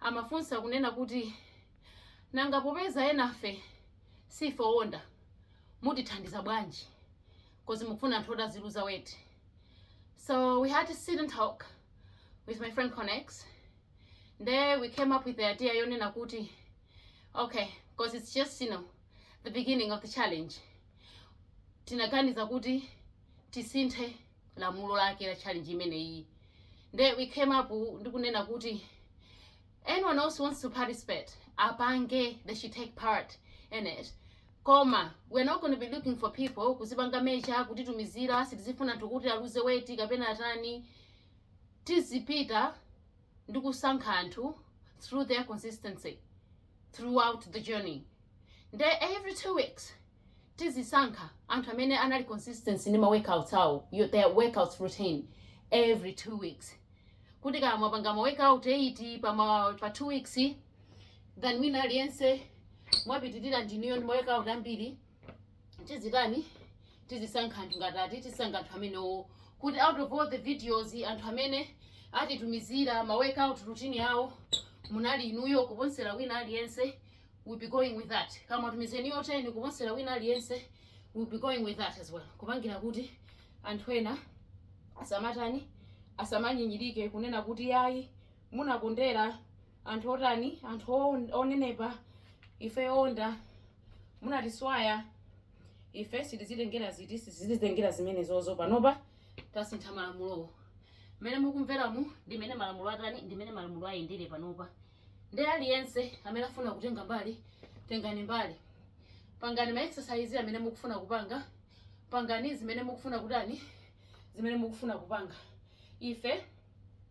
amafunsa kunena kuti nanga popeza enafe sife owonda mutithandiza bwanji cause mukufuna anthu oti aziluza weight so we had to sit and talk with my friend connex nde we came up with the idea yonena kuti okay because it's just you know the beginning of the challenge tinaganiza kuti tisinthe lamulo lake la challenge imene iyi nde we came up ndi kunena kuti anyone who wants to participate apange they should take part in it koma we're not going to be looking for people kuzipanga measure kutitumizira sitizifuna anthu kuti aluze weight kapena atani tizipita ndi kusankha anthu through their consistency throughout the journey nde every two weeks tizisankha anthu amene anali consistency ndi ma workouts awo yo- their workouts routine every two weeks kuti kaya mwapanga ma workout 8 pa, ma, pa two weeks then wina aliyense mwapitirira ndinuyo ndi ma workout ambiri tizitani tizisankha anthu ngati ati tisankha anthu amenewo kuti out of all the videos anthu amene atitumizira ma workout routine awo munali inuyo kuposera wina aliyense we'll be going with that kaya mwatumiza ni yoteni kuposera wina aliyense we'll be going with that as well kupangira kuti anthu ena asamatani asamanyinyirike kunena kuti yayi munakondera anthu otani anthu on- onenepa ife owonda munatiswaya ife sitizitengera ziti sitizitengera zimenezozo panopa tasintha malamulowo mmene mukumveramu ndi mmene malamulo atani ndi mmene malamulo ayendere panopa Ndi aliyense amene afuna kutenga mbali, tengani mbali. Pangani ma exercise amene mukufuna kupanga, pangani zimene mukufuna kutani, zimene mukufuna kupanga. Ife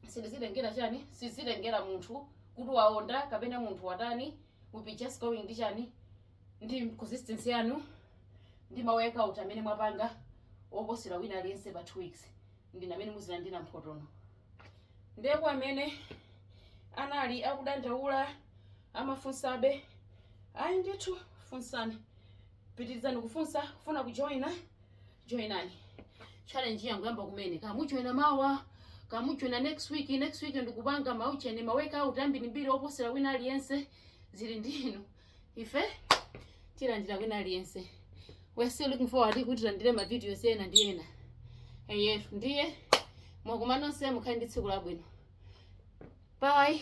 sitizitengera chani, sitizitengera munthu kuti waonda kapena munthu watani, we'll be just going ndi chani, ndi consistency yanu, ndi ma workout amene mwapanga oposera wina aliyense pa 2 weeks, ndinu amene muzilandira mphoto. nde kwa amene anali akudandaula amafunsabe ayi ndithu funsani pitirizani kufunsa kufuna kujoyina joyinani challenge yangoyamba kumene kaya mujoyina mawa kaya mujoyina next week next week ndikupanga maujeni maworkout ambirimbiri oposera wina aliyense zili ndi inu ife tilandira wina aliyense we're still looking forward kuti tilandire ma videos ena ndi ena eyetu ndiye tikumananso mukhale ndi tsiku labwino bye